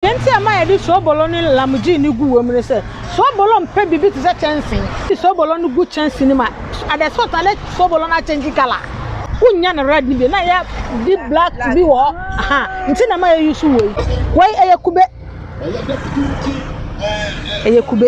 Deɛ nti a ɛma yɛde soobolo ne lamgye no gu wom ne sɛ, soobolo mpɛ biribi te sɛ kyɛnse. Wode soobolo no gu kyɛnse no mu a, at the salt na let soobolo no akyɛngye colour. Wonnya no red no bio, na ɛyɛ deep black bi wɔ hɔ, aha nti na ɛma yɛ use wei. Wei ɛyɛ kube, ɛyɛ kube.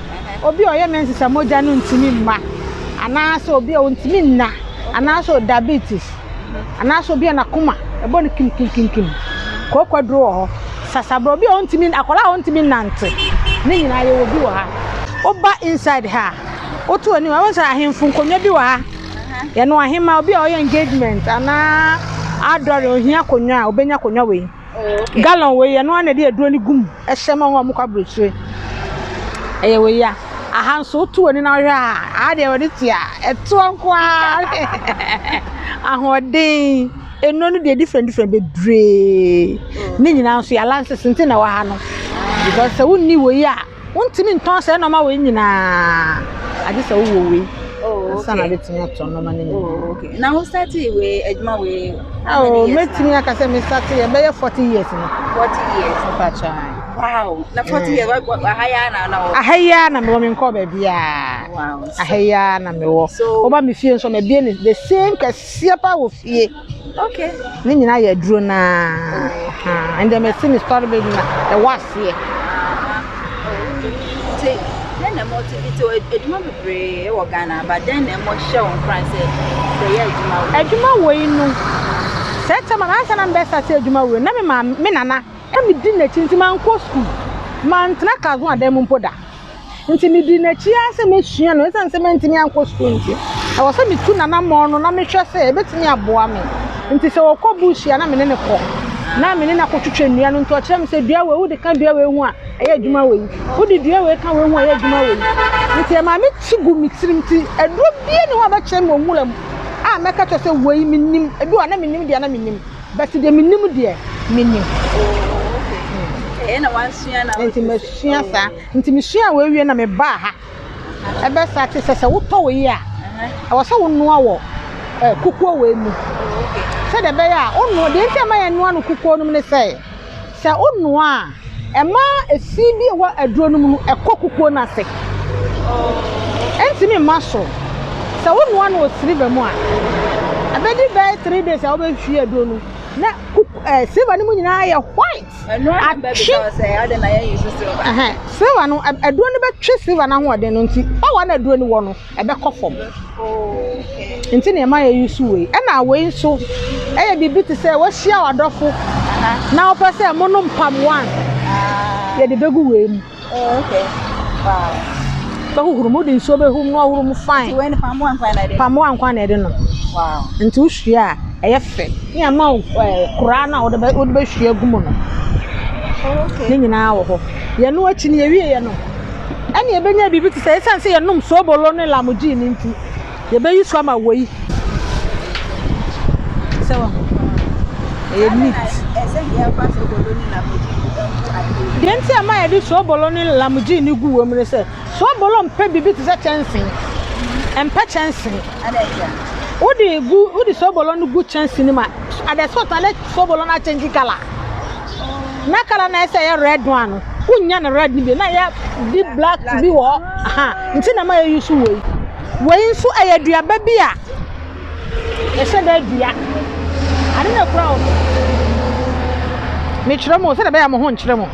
obi a ɔyɛ mensesa mogya no ntumi mma anaasɛ obi a ɔntumi nna anaasɛ diabetes anaasɛ obi a n'akoma ɛbɔ no kimkimkimkim kookwaduro wɔ hɔ sasaborɔ obi a ɔntumi akwadaa a ɔntumi nnante ne nyinaa yɛwɔ bi wɔ ha woba inside ha a woto anim a wosɛ ahemfo nkonnwa bi wɔ ha yɛne ahema obi a ɔyɛ engagement anaa adɔre ohia akonnwa a obɛnya akonnwa wei Gallon wei yɛ ɛno ara na ɛde aduro no gu mu hyɛ ma wɔn a wɔkɔ aburokyire. Ɛyɛ wei a aha nso woto w'ani na wohwɛ a aha deɛ wɔde te a ɛtoɔ nko ara ahoɔden nnuro no deɛ different different bebree ne nyinaa nso yɛ alliances nti na ɛwɔ ha no because sɛ wonni wei a. wontumi ntɔn saa nneɛma wei nyinaa agye sɛ wowɔ wei oh, ansa na wobɛtumi atɔ nneɛma no nyinaa oh, okay. na wo starte wei adwuma wei oh, mɛtumi aka sɛ me starte yɛ bɛyɛ 40 years no 40 years mpakya wow na 40 years aha yɛ na na wɔ aha yɛ na mewɔ me nkɔ baabi a aha yɛ na mewɔ woba me fie nso mabie ne the same kɛseɛ pa wɔ fie Okay. Ne nyinaa yɛ aduro no ara. Ɛnna mesi me sɔre bɛ nyina ɛwɔ aseɛ. Nti dɛn na ɛma ɔte bi te adwuma bebree wɔ Ghana aba dɛn na ɛma ɔhyɛ wɔn kran sɛ sɛ yɛ adwuma wɔ. Adwuma wɔ yi no sɛ ɛtɛ ma ansa na mbɛ sase adwuma wɔ na me maame me nana ɛmi di n'akyi nti ma nkɔ sukuu ma ntena kazo adan mu mpo da. Nti medii n'akyi ara sɛ mɛsua no. Ɛsiane sɛ mantumi ankɔ sukuu nti, ɛwɔ sɛ metu n'anammɔn no na mehwɛ sɛ ɛbɛtumi aboa me. Nti sɛ ɔkɔ bush a, na me ne no kɔ, na me ne no akɔtwitwa nnua no. Nti ɔkyerɛ me sɛ, Dua wei, wode ka dua wei ho a, ɛyɛ adwuma wei. Wode dua wei ka wei ho a, ɛyɛ adwuma wei. Nti ɛmaa me ti gu me tirim. Nti aduro biara nni hɔ a ɔbɛkyerɛ me wɔ nwura mu a mɛka akyerɛ wo sɛ wei menim. Ebi wɔ hɔ a, na mennim deɛ a na menim. But deɛ menim deɛ menim. Oh, okay. na wansua na Nti mesua oh. saa. Nti mesua wɔ awie na mebaa ha. Ɛbɛ saa te sɛ sɛ wotɔ wɔ yi a. Uh-huh. Ɛwɔ sɛ wonoa wɔ eh, kukuo wɔ mu. Oh, sɛdeɛ ɛbɛyɛ a wonoa deɛ nti ama yɛnoa no kukuo nom ne sɛ Sɛ wonoa a, ɛma fi bi a ɛwɔ aduro no mu no kɔ kukuo no ase. Ɛntumi mma so. Sɛ wonoa no wɔ siliva mu a, ɛbɛdi bɛyɛ three days a wobɛhwie aduro no na kuk ɛɛ siliva no mu nyinaa ayɛ white. Ɛnoa no bɛbi Atwe sɛ sɛ ɛyɛ de na yɛn yi so silver. ɛhɛn, siliva no, ad- aduro no bɛtwe siliva no ahoɔden no nti, power na aduro no wɔ no, ɛbɛkɔ fam. Nti na ɛma yɛ use wei. Ɛna wei nso ɛyɛ biribi te sɛ wahyia w'adɔfo na wopɛ sɛ mo nom mpaboa a, yɛde bɛgu wei mu. Bɛhohoro mu, wode nsuo bɛhum na wahohoro mu fine. Mpaboa nkwa na ɛde nom. Nti wohwie a, ɛyɛ fɛ. Ne ɛma wo koraa no a wode bɛhwie agu mu no, ne nyinaa wɔ hɔ. Yɛno akyi no, yɛwie yɛ no, ɛnna yɛbɛnya biribi te sɛ esiane sɛ yɛnom soobolo ne lamogye no nti, yɛbɛyi so ama wei. Sɛ wahu. Ɛyɛ neat. Ɛsɛ deɛ ɛfa soobolo ne lamogye gu ade. Deɛ nti a ma yɛde soobolo ne lamogye no gu wom ne sɛ, soobolo mpɛ biribi te sɛ kyɛnse. Ɛmpɛ kyɛnse. Wode gu wode soobolo no gu kyɛnse no mu a, ada sɛ ɔtane soobolo no akyɛngye kala. na kala na ɛsɛ yɛ red one no wonya no red no bi na yɛ di black bi wɔ hɔ ha nti na ma yɛ yusu wei wei nso ɛyɛ aduaba bi a yɛhyɛ dɛ dua ade na kura wɔ mekyerɛ mu sɛdeɛ bɛyɛ mo ho nkyerɛ mu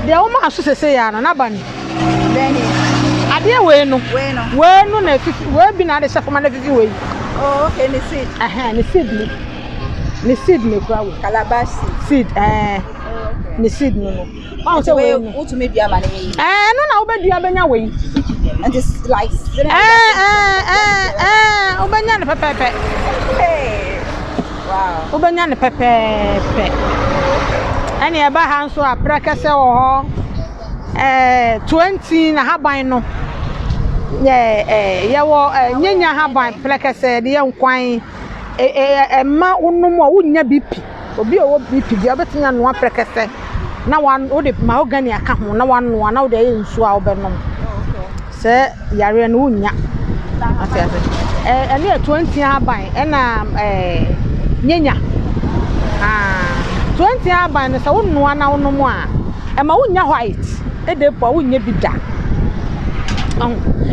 deɛ wɔn aso sese yɛ ano n'aba no adeɛ wei no wei no na efifi wei bi na ade hyɛ fam na efifi wei. Oh, okay, ne seed. Ɛhɛn, ne seed ni. ne seed na ekura wɔ. calabash seed. seed ɛɛ ne seed no no. ɔn sɛ wei no wotumi dua ma ne yɛ yi. ɛɛ no na wobɛdua bɛnya wei. ɛnti like. ɛɛ ɛɛ ɛɛ ɛɛ wobɛnya no pɛpɛɛpɛ. wobɛnya no pɛpɛɛpɛ. ɛna ɛba ha nso a prɛkɛsɛ wɔ hɔ ɛɛ twenty na haban no. yɛ ɛɛ yɛwɔ ɛɛ nyanya haban prɛkɛsɛ deɛ nkwan. Ɛmma wonom a, wonnya BP. Obi a ɔwɔ BP deɛ, ɔbɛtumi anoa prɛkɛsɛ na wode mahogany aka ho na wanoa na wode ayɛ nsuo a wobɛnom. Saa yareɛ no, wonnya. Wate aseɛ? Ɛno yɛ toantia ahaban ɛnna nyanya. Toantia ahaban no, sɛ wonoa na wonom a, ɛmma wonnya white. Ɛdɛ mpo a, wonnya bi da.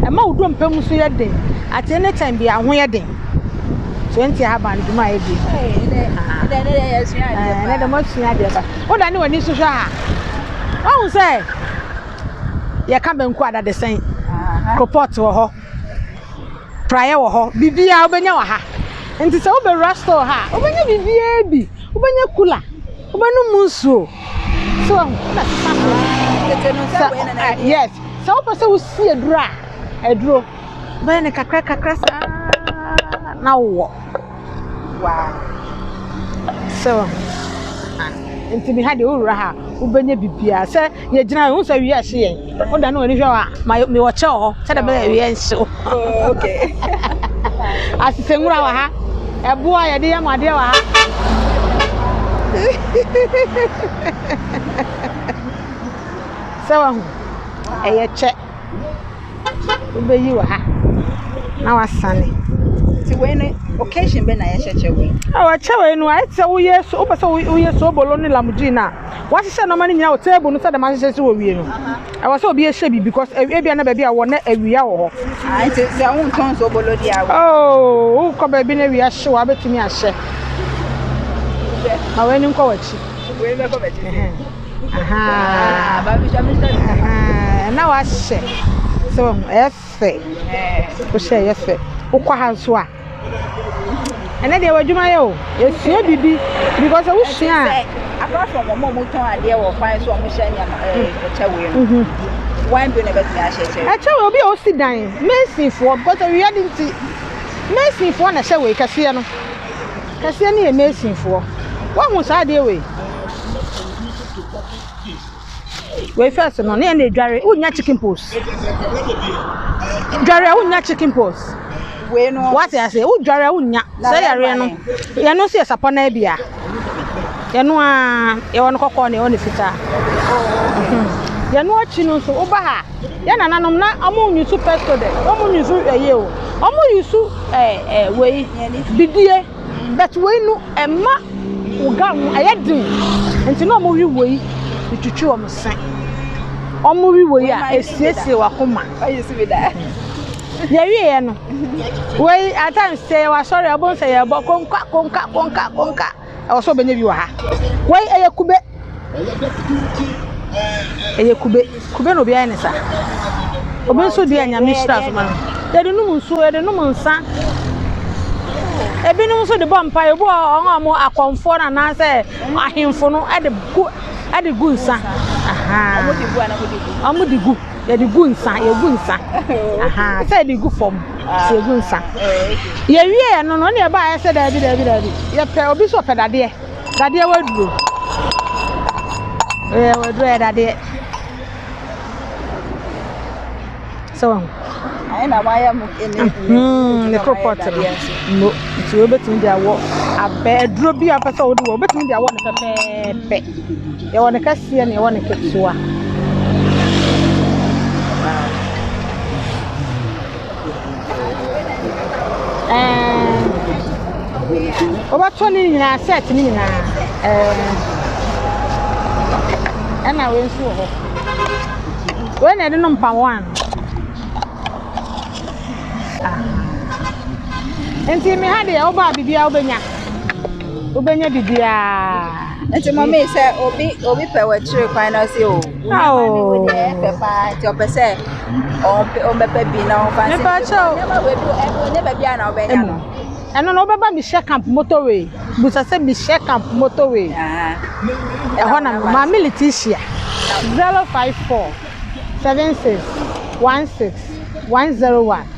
Ɛma wo dompe mu nso yɛ den. At any time biara, wo ho yɛ den. So nti ahaban dwuma a ɛdi? Ɛnɛ dɛ moasua adeɛ pa. Wodane w'ani so hwɛ a, woahu sɛ yɛka banku a dadesɛn, kropɔt wɔ hɔ, praeɛ wɔ hɔ, biribiara wobɛnya wɔ ha. Nti sɛ wobɛwura store ha a, wobɛnya biribiara bi. Wobɛnya kula, wobɛnom mu nsuo. So wahu, na sesa so. Yes, sɛ wopɛ sɛ wosi aduro a, aduro. wobɛyɛ no kakra kakra saa na wowɔ waa so nti me ha deɛ wowura ha wobɛnya biribiaa sɛ yɛgyina yɛhu sɛ wiɛ hye yɛn woda ne w'ani hwɛ hɔ a mewɔ kyɛ wɔ hɔ sɛdeɛ bɛyɛ wiɛ nhye wo asesɛ nwura wɔ ha ɛboɔ a yɛde yɛ mu adeɛ wɔ ha sɛ wahu ɛyɛ kyɛ Wobɛyi wɔ ha na wasane nti wei no occasion bɛ na yɛhyɛ kyɛ wei. Ɛwɔ kyɛ wei no ayɛ sɛ woyɛ so wopɛ sɛ woyɛ sobolo ne lamugye no a wahyehyɛ nneɛma no nyinaa wɔ table no sɛ dɛm ahyehyɛ si wɔ wie no ɛwɔ sɛ obi ehyɛ bi because ebia na baabi a wɔ na awia wɔ hɔ. Ah nti sɛ wo ntɔn sobolo di awo. Oh wokɔ baabi na awia hye wɔ abɛtumi ahyɛ. Ma wei no nkɔ w'akyi. Wei bɛkɔ bɛkyi. na wahyɛ so ɛyɛ fɛ wohyɛ ɛyɛ fɛ wokɔ ha nso a ɛnɛ deɛ w'adwuma yɛ o esua bibi because wosua a. apart from wɔn a wɔtɔn adeɛ wɔ kwan so wɔn hyɛ nneɛma ɛɛ ɛkyɛ wei no mhm. wɔn bi na bɛtumi ahyɛ kyɛ. ɛkyɛ wei obi a osi dan mesinfoɔ because awia de nti mesinfoɔ na ɛhyɛ wei kɛseɛ no. Kɛseɛ no yɛ Masonfoɔ. Woahu saa adeɛ wei? Wei first no, ne yɛn na edware, wonnya chicken pox. Dware a wonnya chicken pox. Wei no. Wate ase, wodware a wonnya. Sɛ yareɛ no, yɛn no nso yɛ sapɔ na abia. Yɛn no a, yɛwɔ no kɔkɔɔ na yɛwɔ no fitaa. Yɛn no akyi no nso, woba ha. Yɛ nananom na ɔmo nyusu pɛsto dɛ ɔmo nyusu ɛyɛ o ɔmo yusu ɛɛ ɛɛ wei bidie bɛt wei no ɛma wo gam no ɛyɛ den nti na ɔmo wi wei etwitwi ɔmo se ɔmo wi wei a esiesie wakoma yɛwie yɛ no wei ata nsɛ wasɔre ɔbɔ nsɛ yɛ bɔ konka konka konka konka. ɛwɔ sɛ ɔbɛnya bi wɔ ha wei ɛyɛ kube ɛyɛ kube kube na obi ayɛ ne sa obi nso deɛ nyame hyira so ma no yɛde nom nsuo yɛde nom nsa ebinom nso de bɔ mpa ebi wɔ wɔn a wɔn akɔnfoɔ no anaasɛ ahemfo no ɛde gu ɛde gu nsa wɔn de gu. yɛde gu nsa yɛgu nsa ahaa sɛ yɛde gu fam sɛ yɛgu nsa yɛwie yɛ no no ne ɛba ayɛ sɛ daabi daabi daabi yɛpɛ obi sɛ ɔpɛ dadeɛ dadeɛ waduro ɛyɛ waduro yɛ dadeɛ sɛ wɔn ne koropɔt no no nti wobɛtumi de awɔ abɛ aduro bi a wopɛ sɛ wode wɔ wobɛtumi de awɔ no pɛpɛɛpɛ Yɛwɔ ne kɛseɛ na yɛwɔ ne ketewa. Wobɛtɔ ne nyinaa set ne nyinaa. Ɛna wei nso wɔ hɔ. Wei na ɛde no mpaboa ano. Nti me ha deɛ wobaa biribiara wobɛnya. Wobɛnya biribiara. Nti mɔmi sɛ obi obi pɛ wɔ akyire kwan na ɔsi o. Awo. Ɛfɛ paa nti ɔpɛ sɛ ɔmpɛ ɔmbɛpɛ bi na ɔmfa nsi. Mepa kyɛw. Ɛma wɔ edu ɛfɛ onye baabi a na ɔbɛnya no. Ɛno no wobɛba Michelle Camp motorway busa sɛ Michelle Camp motorway. Ɛhɔ na maame Leticia zero five four seven six one six one zero one.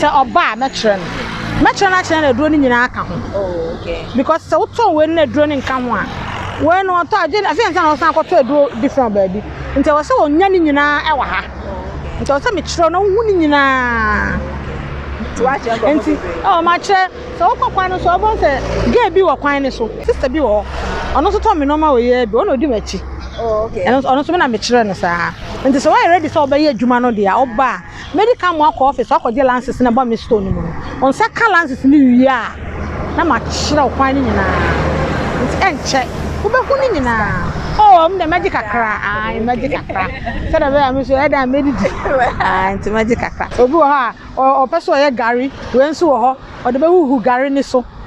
Sɛ ɔba a mɛkyerɛ no. Mɛkyerɛ no akyerɛ no aduro no nyinaa ka ho. Because sɛ wotɔn wei no na aduro no nka ho a, wei no ɔtɔ a, ɛfiri sɛ ansa na ɔsan akɔtɔ aduro different wɔ baabi. Nti ɛwɔ sɛ ɔnya ne nyinaa wɔ ha. Nti ɛwɔ sɛ mekyerɛ wo na wohu ne nyinaa. Nti ɛwɔ makyerɛ. Sɛ wokɔ kwan no so a, wobɛhu sɛ girl bi wɔ kwan no so. Sister bi wɔ hɔ. Ɔno nso tɔ me nneɛma wɔ yɛ bi. Ɔno na ɔdi m'akyi. Ɔno nso me na mekyerɛ no saa. Nti sɛ woayɛ ready sɛ wobɛyɛ adwuma no deɛ a, woba a. Medi kan mo akɔ office akɔgye lances na ɛbɔ me store no mu no, wɔn nsa ka lances no wie a, na makyerɛw kwan no nyinaa. Nti ɛnkyɛ, wobɛhu ne nyinaa. Oh, ɛwom deɛ mɛgye kakra, ae, mɛgye kakra, sɛdeɛ ɛbɛyɛ a me nso ɛyɛ dɛn a mɛdidi, ae, nti mɛgye kakra. Obi wɔ hɔ a, ɔpɛ sɛ ɔyɛ gari, wei nso wɔ hɔ, ɔde bɛhuhu gari no so.